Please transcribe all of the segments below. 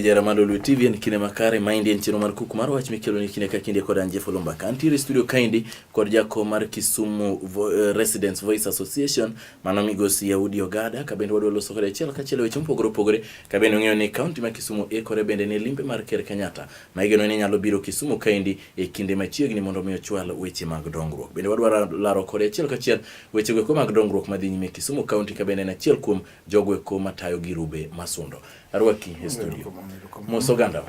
Jara Malo Lwe TV en kine makare maindi en chino mar kuku mar wach mikelo ni kine ka kinde kod Anje Folomba ka antiere studio kaindi kod jako mar Kisumu Vo, uh, Residents Voice Association mano migosi Yahudi Ogada ka bende wadwa loso kode achiel kachiel weche mopogore opogore ka bende ong'eyo ni kaunti ma Kisumu ikore bende ne limbe mar Ker Kenyatta ma igeno ni nyalo biro Kisumu kaindi e kinde machiegni mondo mi ochwal weche mag dongruok. Bende wadwaro laro kode achiel kachiel weche gweko mag dongruok madhi nyime Kisumu County ka bende en achiel kuom jogweko matayo Girube Masundo. Arwaki e studio. Mos oganda.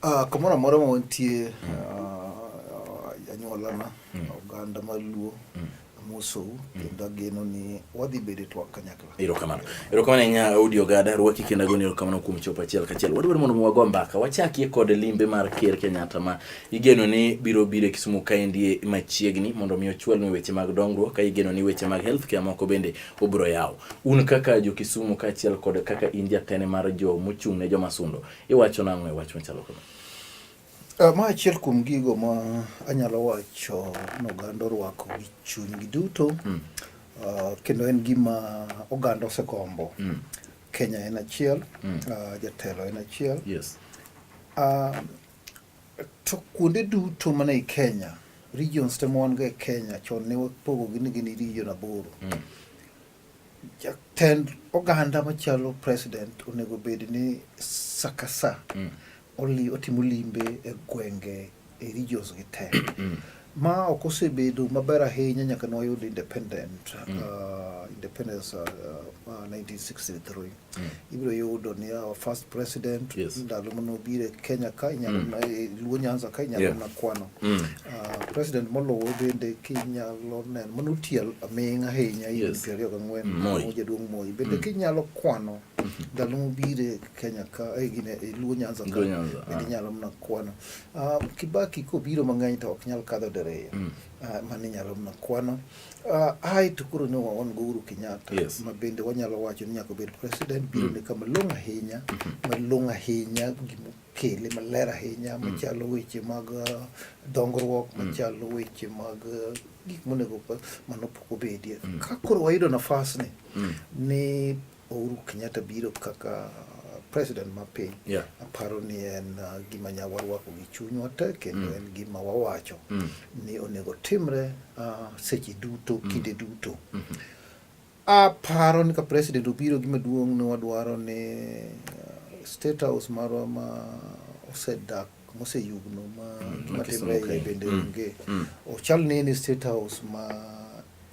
Ah, kamoro amora ma wantie, ah, anyuolana, mm. oganda maluo, mm. Amosou kendo ageno ni wadhi bedo e twak kanyakla. Erokamano. Erokamano ahinya Audi Ogada, rwaki kendo agoni erokamano kuom chopo achiel kachiel. Wadwaro mondo wago mbaka. Wachakie kod limbe mar Ker Kenyatta ma igeno ni biro biro e Kisumu kaendi machiegni mondo mi ochwalnwa weche mag dongruok ka igeno ni weche mag health care moko bende obiro yawo. Un kaka jo Kisumu kaachiel kod kaka in jatene mar jo mochung' ne joma sundo, iwacho nang'o e wach machalo kamano? Eh, ma achiel kuom gigo ma anyalo wacho ni oganda orwako gi chunygi duto mm. uh, kendo en gima oganda osegombo mm. Kenya en achiel mm. uh, jatelo en achiel yes. uh, to kuonde duto mana e Kenya regions te mwan go e Kenya chon ne wapogogi ni gin region aboro mm. Jatend oganda machalo president onego bed ni sakasa mm. oli, otimo limbe e gwenge e regions gi te mm. ma ok osebedo maber ahinya nyaka ne wayud independent mm. uh, independence uh, uh, 1963 Mm. ibiro yudo ni our first president yes. ndalo manobire Kenya ka inyalo mm. Eh, Luo Nyanza ka inyalo yeah. nakwano mm. uh, president molowo bende kinyalo neno mano tiel aming ahinya higni yes. piero ariyo gang'wen mm. jaduong' Moi bende mm. kinyalo kwano mm -hmm. ndalo mobire Kenya ka eh, gine, eh, Luo Nyanza ka bende ah. inyalo mna kwano uh, Kibaki kobiro mang'eny to ok nyal kadho diriyo mm. uh, mano inyalo mna kwano Uh, hai to koro ne waon go Uhuru Kenyatta yes. ma bende wanyalo wacho ni nyaka obed president biro mm. ne kama long' ahinya mm -hmm. ma long' ahinya gimokele maler ahinya mm. machalo weche mag uh, dongruok mm. machalo weche mag uh, gik monego mano pok obedie mm. ka koro wayudo nafas ni mm. ni Uhuru Kenyatta biro kaka president ma piny yeah. aparo ni en uh, gima nya warwako gi chunywa te kendo mm. en gima wawacho mm. ni onego timre uh, seche duto mm. kinde duto mm -hmm. aparo ni ka president obiro gima duong' ne wadwaro ni uh, state house marwa ma osedak moseyugno ma mm. gima timre bende mm. onge mm. ochal ni ni state house ma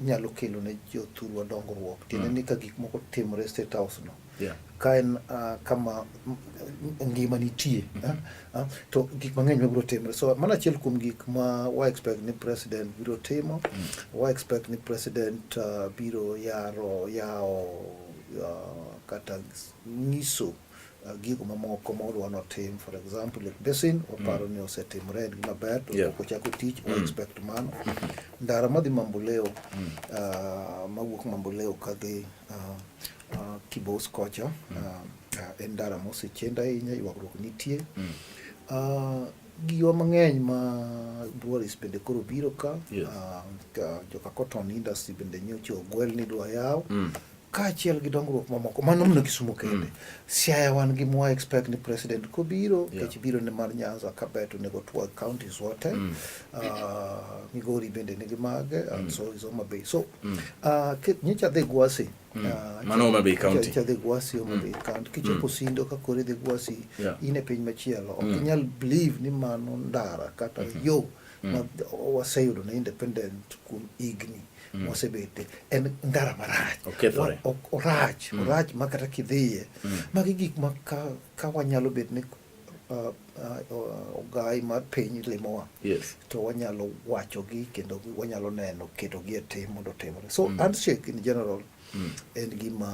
nyalo kelo ne jothurwa dongruok tiende mm. ni ka gik moko timore state house no yeah. ka en uh, kama ngima nitie mm -hmm. uh, uh, to gik mang'eny mabiro timre so mana achiel kuom gik ma wa expect ni president biro timo mm. wa expect ni president uh, biro yaro yawo uh, kata nyiso uh, gigo mamoko ma odwa notim for example Lake Basin waparo mm. ni osetimre en gima ber to yeah. ochako tich mm. expect mano mm-hmm. ndara madhi Mamboleo mm. uh, mawuok Mamboleo kadhi uh, uh, Kibos kocha mm. uh, uh, en ndara mosechend ahinya ywagruok nitie mm. uh, giwa mang'eny ma Boris bende koro biro ka yes. uh, joka cotton industry bende nyocha ogwel ni dwa yaw mm. kaachiel gi dongruok mamoko mano mna Kisumu kende mm. Siaya wan gi mwa expect ni president kobiro yeah. kech biro ne mar Nyanza Kabet onego twag counties wote mm. uh, Migori bende nigi mage uh, mm. so is Homa Bay so mm. uh, nyicha dhi gwasi mm. uh, mano Homa Bay county cha dhi gwasi Homa mm. Bay county kichopo mm. sindo ka kore dhi gwasi yeah. ine piny machielo ok mm. inyal believe ni mano ndara kata mm -hmm. yo mm. ma waseyudo na independent kuom igni mm. mm. mosebete en ndara marach okethore orach mm. orach ma kata kidhiye mm. magi gik ma ka, ka wanyalo bet ni uh, uh, ogai mar piny limowa yes. to wanyalo wachogi kendo wanyalo neno ketogi e tim mondo otimre so mm. handshake in general mm. en gima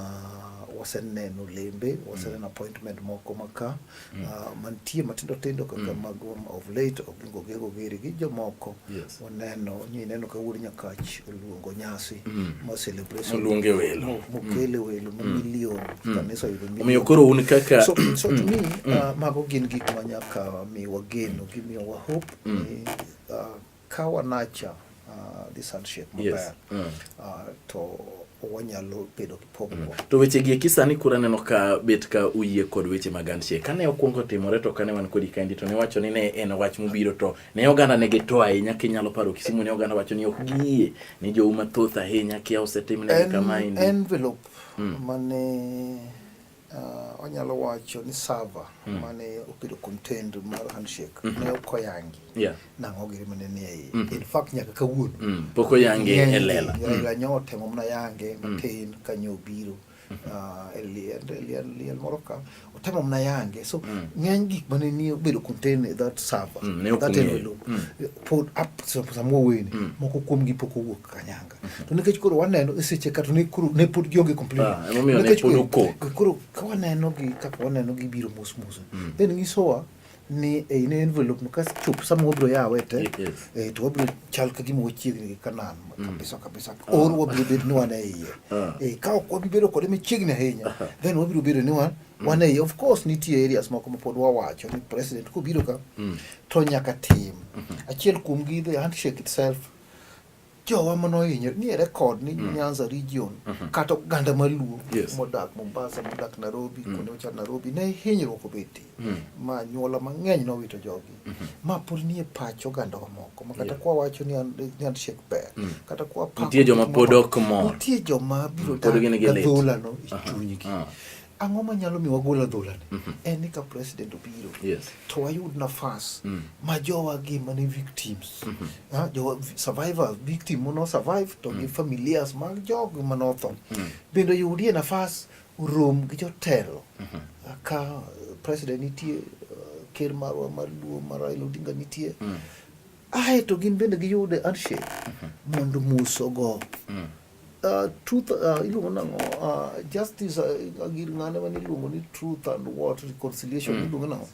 waseneno lembe waseneno mm. appointment moko maka mm. uh, mantie matindo tindo kaka mm. mago um, of late Oginga Ogego Giri gi jomoko yes. waneno nyineno ka wuod Nyakach oluongo nyasi mm. ma celebration oluonge welo mokele mm. welo ma mm. milion mm. kanisa yudo milion omiyo koro un kaka so, so to me uh, mago gin gik ma nyaka miwa geno gimiyowa hope mm. ni, uh, Ka wanacha uh, this handshake maber yes. mm. uh, to wanyalo bedo gi pogruok. Mm. To weche gi eki sani kura neno ka bet ka uyie kod weche mag handshake. Kane okwongo timore to kane wan kodi kaendi to ne wacho ni ne en wach mobiro to ne oganda ne gito ahinya kinyalo paro Kisumu ne oganda wacho ni ok giyie ni jouma thoth ahinya kia osetim ne kama endi. Envelope mm. mane Uh, wanyalo wacho ni sava mm. mane oketo content mar handshake mm -hmm. ne ok oyangi yeah. nang'o giri mane ni ei mm -hmm. in fact nyaka kawuono mm. pok oyangi e lela mm. nyo temo mna yange mm. matin mm. ka nyo biro mm -hmm. uh, liel, liel, liel moro ka otemo mna yange so mm. ng'eny gik mane ni obedo contain e that sava mm. that envelope mm. pod up samuoweni mm. moko kuomgi pok owuok kanyanga Mhm. to nikech koro waneno e seche ka to ne koro ne pod gionge complain ah, nikech koro ka waneno gi kaka waneno gi biro mos mos mm. then nyisowa ni e in envelope no kas chup sama wabiro yawe te e to wabiro chal ka gima wachiegni gi kanan mm. kabisa kabisa ah. or wabiro bedo ni wan e iye ah. e ka ok wabiro bedo kode machiegni ahinya then wabiro bedo ni wan mm. wan e iye of course nitie areas moko ma pod wawacho ni president kobiro ka to nyaka tim mm-hmm. achiel kuom gi the handshake itself jowa ma nohinyore ni ere kod ni mm. Nyanza region mm -hmm. kata oganda maluo yes. modak Mombasa modak Nairobi mm. kuonde mochal Nairobi ne hinyruok obetie mm. ma nyuola mang'eny nowito jogi mm -hmm. ma pod nie pach oganda wamoko ma kata yeah. kwa wacho ni an shek ber mm. kata kwa pa nitie joma pod ok mor nitie joma biro mm. dak gadhola no e chunygi uh ah. -huh. ang'o manyalo mi wagol adholani mm -hmm. en ni ka president obiro yes. to wayud nafas mm. ma jowa gi mane victims mm -hmm. ha, jowa survivors victim mono survive to mm. gi familias mag jog manotho mm. bende yudie nafas rom gi jotelo mm -hmm. ka president nitie uh, ker marwa mar luo mar Raila Odinga nitie mm. ae to gin bende giyude handshake mm -hmm. mondo mos ogo mm. Uh, truth uh, iluongo nango uh, justice uh, gir ng'ane mane iluongo ni truth and what reconciliation mm. iluongo nango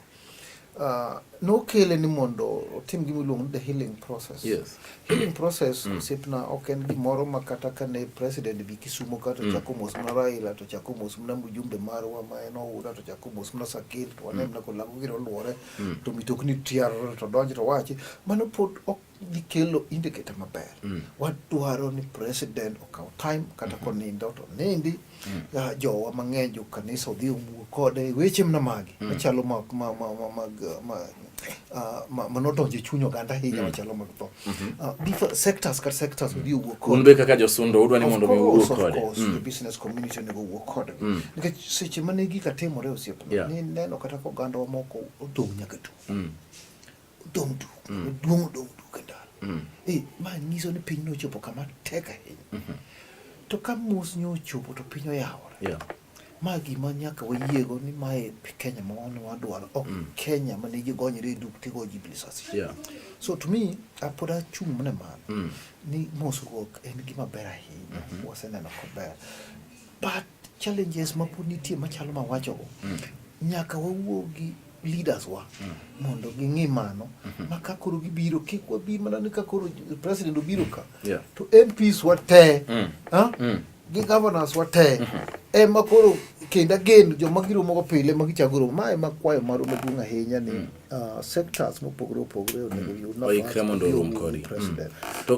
uh, nokele ni mondo otim gima iluongo ni the healing process yes. healing process mm. osiepna ok en gimoro ma kata kane president bi kisumo ka to mm. chako mos mna raila to chako mos mna mjumbe marwa ma en oura to chako mos mna sakil to wane mm. mna kolako giro luore mm. to mitokni tiar to donj to wachi mano pod ok gikelo indicator maber mm. wadwaro ni president okaw time kata mm-hmm. konindo to nindi mm. uh, jowa mang'eny jo kanisa odhi owuo kode e weche mna magi mm. machalo ma, ma, ma, ma, ma, ma uh, ma, ma nodonjo e chuny oganda ahinya mm. machalo mag tho mm -hmm. uh, sectors kar sectors odhi owuo kode un be kaka josundo udwa ni mondo mi owuo kode of course mm. the business community onego owuo kode mm. nikech seche mane gika timore osiepna yeah. ni neno kata ka oganda wa moko odong' nyaka tu mm. Odong' duk, mm. duong' odong' duk e ndalo. Mm. E, ma nyiso ni piny nochopo kama tek ahinya. Mm -hmm. To ka mos nyo ochopo to piny oyawore. Yeah. Ma gima nyaka wayiego ni mae Kenya ma wan wadwaro, ok mm. Kenya ma nigi gonyre e duk tigo ji bilisasi. Yeah. So to me, apod achung' mana mano. Mm. Ni mosruok en gima ber ahinya. Mm -hmm. Waseneno kober. But challenges ma pod nitie machalo ma wacho mm. nyaka wawuo gi leaders wa mm. mondo ging'i mano mm -hmm. ma ka koro gibiro kik wabi mana ni ka koro president obiro ka yeah. to MPs wa te mm. huh? mm. gi governors wa te mm -hmm. ema koro kendo agen joma giromogo pile ma gichagoro ma ema kwayo marwa maduong' ahinya ni mm. uh, sectors mopogore opogore onego mm. yud oikre mondo orum kodi mm. to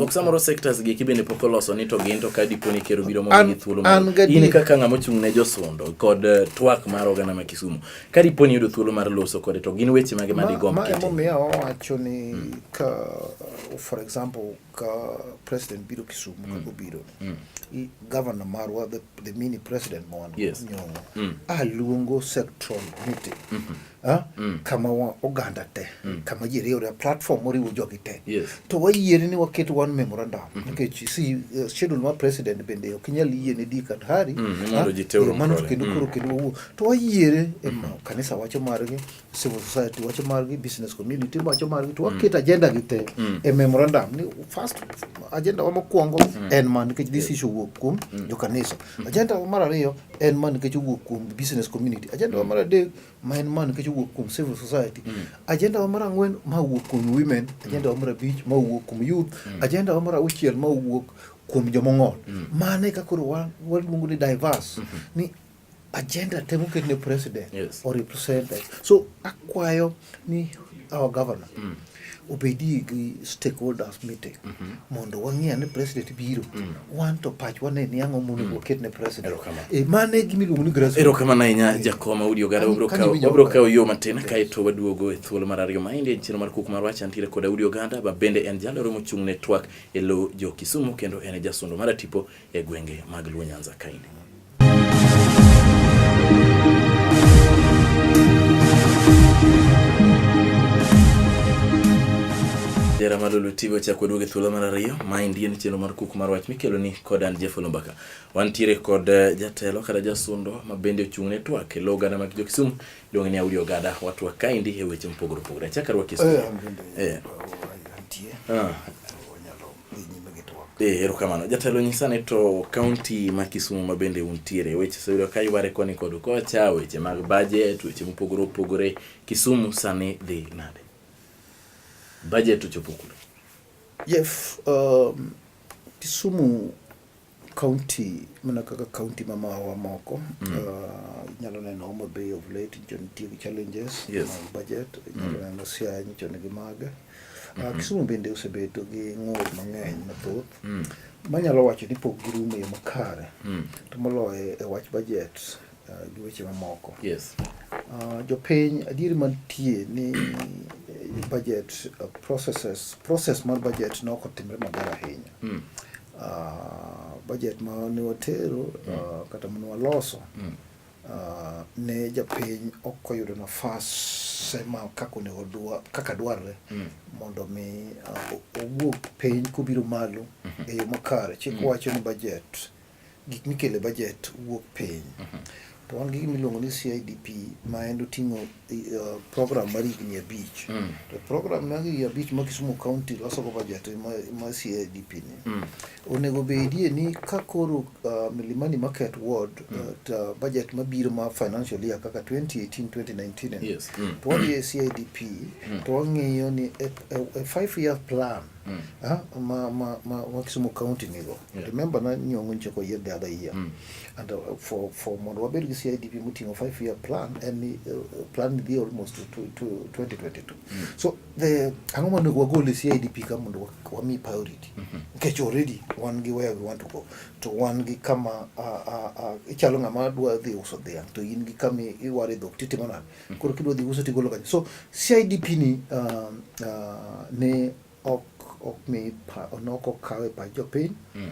oksamoro sectors gi kibende pok oloso ni to gin to ka dipo ni kero biro mondo gi thuolo in kaka ng'ama ochung' ne josundo kod uh, twak mar oganda ma Kisumu ka dipo ni yudo thuolo mar loso kode to gin weche mage ma digomb kete ma emomiyo wacho ni mm. ka for example ka president biro Kisumu mm. kaka obiro mm. governor marwa the, the mini president ma wan yes. nyong'o mm. aluongo sectoral meeting mm -hmm. ah? mm. kama wa, oganda te mm. kama ji riwre platform moriwo jogi te yes. to wayiere ni waket one memorandum mm -hmm. nikech okay, si uh, schedule ma president bende ok inyal yie ne di kata hari mm, ah? eh, mano to kendo mm. koro kendo wawuo to wayiere mm -hmm. kanisa wacho margi civil society wacho margi business community wacho margi to waket mm. agenda gi te mm. e memorandum ni first agenda wa mokwongo mm. en man nikech this issue wuok kuom jo kanisa agenda wa mar ariyo en man nikech wuok kuom business community agenda wa mar adek ma en man nikech wuok kuom civil society agenda wa mar ang'wen ma wuok kuom women agenda wa mar abich ma wuok kuom youth agenda wa mar auchiel ma wuok kuom jomong'ol mane ka koro waluongo ni diverse ni agenda te moket ne president yes. or representative so akwayo ni our governor mm. obedie gi stakeholders meeting mm -hmm. mondo wang'e ni president biro mm. wan to pach wane ni ang'o monego mm. waket ne president e, mane gimiluongo ni grassroots erokamano ahinya jakoma udi ogara wabro kawo yo matin kaeto waduogo e thuolo mar ariyo maendi en chiro mar kuk mar wach antiere koda udi oganda ma bende en jalero mochung' ne twak e lo jo kisumu kendo en e jasundo mar atipo e gwenge mag Luo Nyanza kaini. Jera Malulu TV ochako duogo e thuolo mar ariyo. Maendi en chenro mar kuku mar wach mikelo ni kod an Jeff Olumbaka. Wantiere kod eh, jatelo kata jasundo ma bende ochung' ne twak e lo oganda mag Jokisumu iluonge ni Audi Ogada. Watwak kaendi e weche mopogore opogore. Achaka rwaki. Eh, eh. Oh, ah. Eh, erokamano jatelo nyisa ni to kaunti ma kisumu ma bende untiere weche seyudo ka yware koni kod kocha weche mag bajet weche mopogore opogore kisumu sani dhi nade bajet ochopo kule yes um, kisumu county mana kaka county ma mawa moko mm. uh, inyalo neno Homa Bay of late nyicho nitie gi challenges yes. mag budget inyalo mm. neno Siaya nyicho nigi mage uh, mm-hmm. Kisumu bende osebedo gi ng'ur mang'eny mathoth mm. manyalo wacho ni pok girumo yo makare mm. to moloyo e wach budget uh, gi weche mamoko yes. uh, jopiny adieri mantie ni eh, budget uh, processes process mar budget ne ok otimre maber ahinya mm. Uh, budget ma ne watero mm. uh, kata mane waloso mm. uh, ne japiny ok oyudo nafas ma kaka onego dwa, kaka dwarre mm. mondo mi uh, owuog piny kobiro malo mm -hmm. e yo makare chik mm. wacho ni budget gik mikele bajet wuok piny mhm. to wan gi gimiluongo ni CIDP ma en oting'o uh, program mar higni abich mm. to program mar higni abich ma Kisumu County losogo bajet ma CIDP ni mm. onego bedie ni ka koro uh, Milimani Market Ward mm. uh, ta bajet mabiro ma financial year kaka 2018 2019 yes. mm. to wadhi e CIDP mm. to wang'iyo ni a, a, a five year plan mm. mm. ah, ma ma ma ma Kisumu county nigo yeah. remember na nyongo nchoko ye the other year mm. and uh, for for mondo wabed gi CIDP mutingo 5 year plan and uh, plan the almost to, to, to 2022 mm. so the ango mondo wagol CIDP ka mondo wami priority mm -hmm. nikech already wan gi where we want to go to wan gi kama uh, uh, uh, ichalo ng'ama dwa dhi uso dhiang' to in gi kama iware dhok titimo nade mm. koro kidwa dhi uso tigolo kanyo so CIDP ni uh, uh, ne ok ok mi pa onok okawe pa jopiny mm.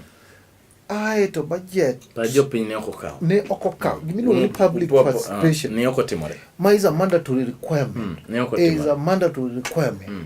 ae to budget pa jopiny ne ok okaw ne ok okaw gima iluongo ni mm. public uh, participation ne ok otimore ma is a mandatory requirement mm. ne ok otimore is a mandatory requirement mm.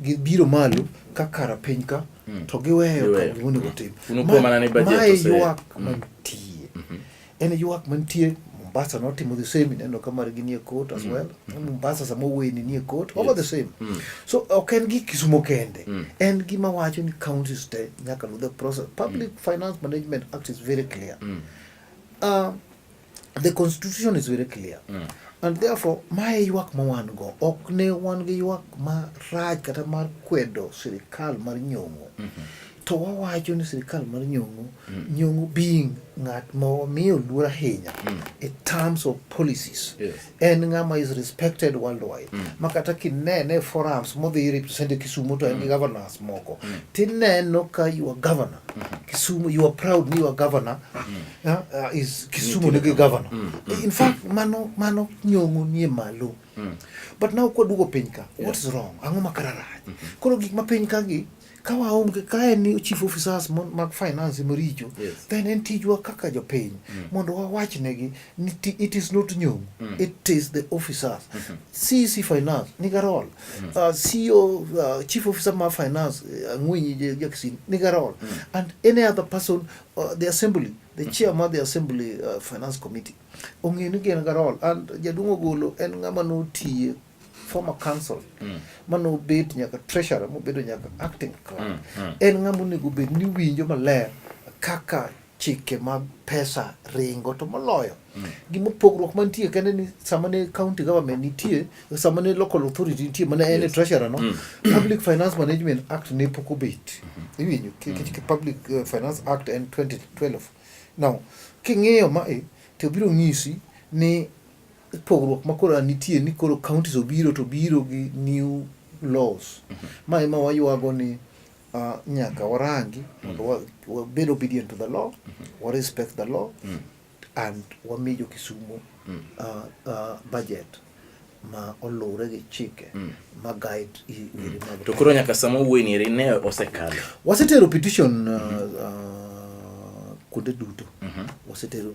gibiro malo ka kara piny ka mm. to giweyo ka gimonego mm. tim. Mae ywak mm. mantie. Mm-hmm. En ywak mantie Mombasa notimo the same ineno ka margi nie court as mm. well. Mm-hmm. Mombasa sama weni nie court over the same. Mm. So ok en gi Kisumo kende. Mm. En gima wacho ni counties te nyaka luw the process. Public mm. Finance Management Act is very clear. Mm. Uh, The constitution is very clear. Mm. And therefore, mae ywak ma wan go ok ne wan gi ywak ma raj kata mar kwedo sirikal mar nyong'o. Mm -hmm. To wawacho ni sirikal mar nyong'o, mm. nyong'o being ng'at ma wamiyo luor ahinya mm. in terms of policies. Yes. en ng'ama is respected worldwide mm. ma kata kinene forums modhi represent Kisumu to en gi mm. governors moko mm. tineno ka your governor mm -hmm. Kisumu you are proud ni your governor mm. uh, uh, is Kisumu mm. nigi governor mm. Mm. in fact mano mano nyong'o nie malo mm. but now kwaduogo piny ka yeah. what is wrong ang'o ma kara rach mm -hmm. koro gik ma piny ka gi ka waonge ka en ni chief officers mag finance maricho yes. then en tijwa kaka jopiny mm. mondo wawach negi ni it is not new mm. it is the officers mm -hmm. CEC finance niga role mm. uh, CEO uh, chief officer ma finance uh, Angwenyi Jackson niga role mm. and any other person uh, the assembly the mm. chair ma the assembly uh, finance committee ong'e ni gin ga role and jaduong' ogolo en ng'ama notiye former council mm. mane obet nyaka treasurer mobedo nyaka acting clerk mm, mm. en ng'ama onego bed ni winjo maler kaka chike mag pesa ringo to moloyo mm. gima pogruok mantie kende ni sama ne county government nitie sama ne local authority nitie mana en yes. treasurer no mm. public finance management act ne pok obet mm -hmm. iwinjo mm. public uh, finance act en 2012 now king'iyo mae to biro ng'isi ni pogruok ma koro nitie ni koro counties obiro to biro gi new laws mhm. ma ema waywago ni uh, nyaka warangi mondo mhm. wabed obedient to the law mhm. wa respect the law and wami jo Kisumu uh, uh, budget ma oluwre gi chike ma guide weri mag to koro nyaka sama wuoyi ni ne osekalo wasetero petition kuonde duto wasetero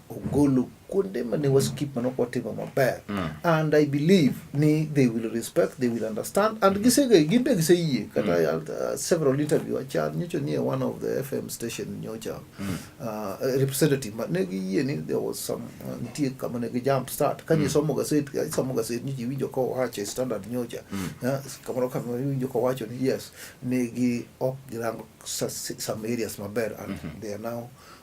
ogolo kuonde mane waskip mane ok watimo maber mm. and i believe ni they will respect they will understand and mm. gisege gin be giseyie kata mm. uh, several interview achan nyocha nie one of the fm station nyocha mm. uh, representative ma ne giyie ni there was some uh, nitie kama ne gijump start kanye mm. somo gaset somo gaset nyocha iwinjo ka owacho e standard nyocha mm. uh, kamoro kamoro iwinjo ka owacho ni yes ne gi ok girango some areas maber and mm -hmm. they are now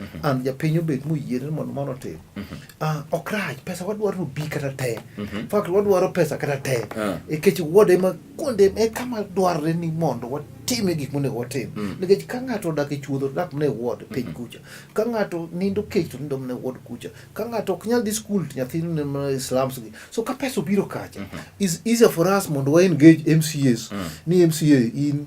Mhm. an japiny obet moyiere mondo mano otim mhm. ah, ok rach pesa wadwaro ni obi kata te mhm. fakt wadwaro pesa kata te ah. nikech wuode ma kuonde e kama dwarre ni mondo watime gik monego watim mm. nikech ka ng'ato odak e chuodho dak mne wuod piny mm-hmm. kucha ka ng'ato nindo kech to nindo mne wuod kucha ka ng'ato ok nyal dhi skul to nyathi mne slums gi so ka pesa obiro kacha mm-hmm. is easier for us mondo wa engage mcas mm. ni mca in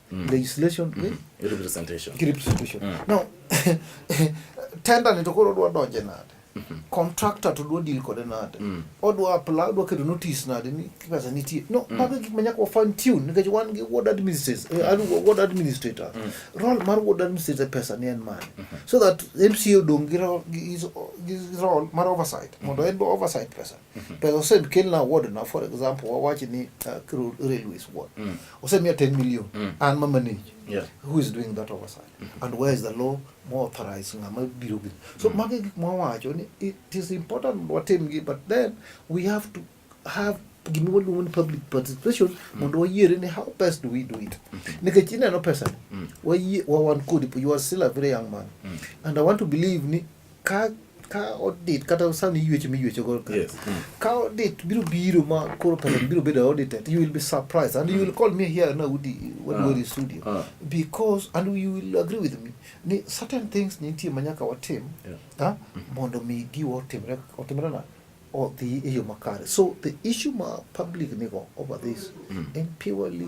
mm. legislation mm -hmm. representation ki representation mm. now tender ni to koro odwa donje nade mm -hmm. contractor to dwa deal kode nade mm. odwa apply odwa kedo notice nade ni pesa nitie no mm. mago gik manyaka fine tune nikech wan gi ward administrators mm. uh, ward administrator mm. role mar ward administrator pesa ni en mane mm -hmm. so that MCA odong gi role gi role mar oversight mm -hmm. mondo en bo oversight pesa mm -hmm. pesa osekel na ward na for example wawachi ni uh, railways ward mm. or send me a 10 million mm. and ma manage yeah. who is doing that oversight mm -hmm. and where is the law more authorized ngama biro gi so mm. magi gik mwawacho ni it is important watim gi but then we have to have gima waluongo ni public participation mm. mondo wayiere ni how best do we do it mm -hmm. nikech ineno pesa mm. wawan kodi you are still a very young man mm. and i want to believe ni ka ka odit kata sani iywecho miywecho go yes. mm. ka odit biro biro ma koro pesa biro bedo audited you will be surprised and mm. you will call me here na udi when uh, in studio uh. because and you will agree with me ni certain things nitie manyaka watim yeah. ha ah, mm. mondo mi giwa otimre otimre na odhi e yo makare so the issue ma public nigo over this mm. and purely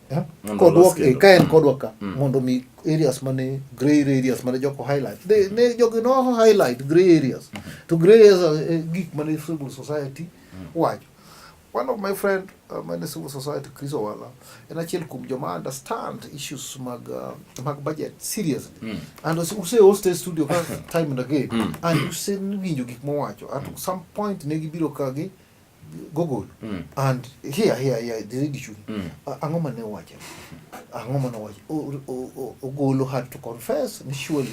Eh? kodwok e, ka en kodwa ka mm. mondo mi areas mane gray areas mane joko highlight ne ne jogi no highlight gray areas mm-hmm. to gray areas e, gik mane civil society mm. wacho one of my friend uh, mane civil society Chris Owala en achiel kuom joma understand issues mag uh, mag budget seriously mm. and use host studio ka time and again mm. and use winjo gik mowacho at some point ne gibiro ka gi Google mm. and here here here the lady should mm. ang'o ma ne wacho ang'o ma ne wacho ogolo had to confess ni surely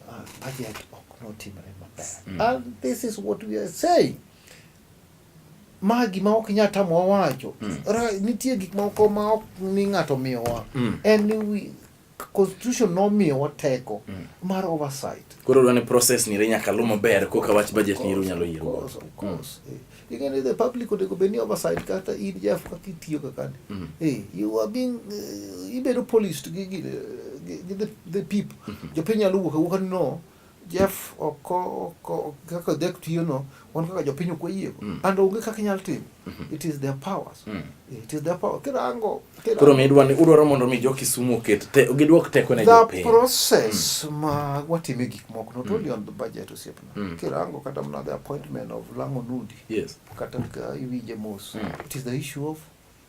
uh, budget ok notimre maber mm. and this is what we are saying ma gima ok nyal tamowa wacho mm. nitie gik moko ma ok ni ng'ato miyowa mm. en ni constitution nomiyowa teko mm. mar oversight. Koro dwani process ni nyaka luw maber koka wach budget ni nyalo yiero. Of course, of mm. course. Mm. Eh, ing'e ni the public onego bed ni oversight kata in Jeff kaka itiyo kaka ni. Mm. Eh, you are being uh, ibedo policed gi gi, gi the, the people. Mm -hmm. Jopiny nyalo wuok awuoka ni no Jeff ok ok ok- kaka dek tiyono wan kaka jopiny ok wayiego Mm. and onge kaka inyal timo Mhm. it is their powers Mm. it is their power kirango kirango- Koro midwa ni udwaro mondo mi jo Kisumu oket te, gidwok teko ne the jopiny. process ma watime gik moko not only on the budget osiepna Mm. kirango kata mna the appointment of lango nundi Yes. kata ka iwinje mos Mm. it is the issue of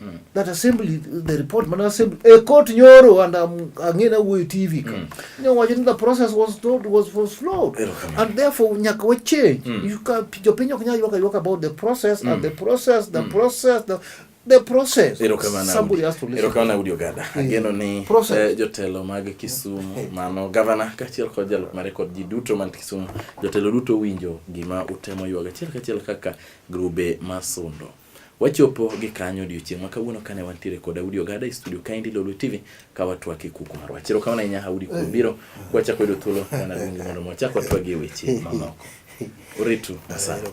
Mm. That assembly, the report, man assembly, a court nyoro and um, again away TV. Mm. You know, watching the process was told was was flawed, and therefore nyaka we change. Mm. You can your penyo kanya you can talk about the process mm. and the process, the mm. process, the the process. Somebody has to listen. Erokamana Udi Ogada. Hmm. Ageno ni process. Eh, jotelo mag Kisumu hmm. mano gavana kachiel kod jalok mare kod ji duto man Kisumu. Jotelo duto winjo gima utemo yuaga achiel kachiel kaka grube masundo. Wachopo gi kanyo odiochieng' ma kawuono kane wantiere kod Audi Ogada e studio kaendi Lolwe TV ka watwak e kuku marwa. Chero kama ne nya Audi kuom biro kwa chako yudo thuolo mana luongi mondo mo chako twagi e weche mamoko. Uritu masano.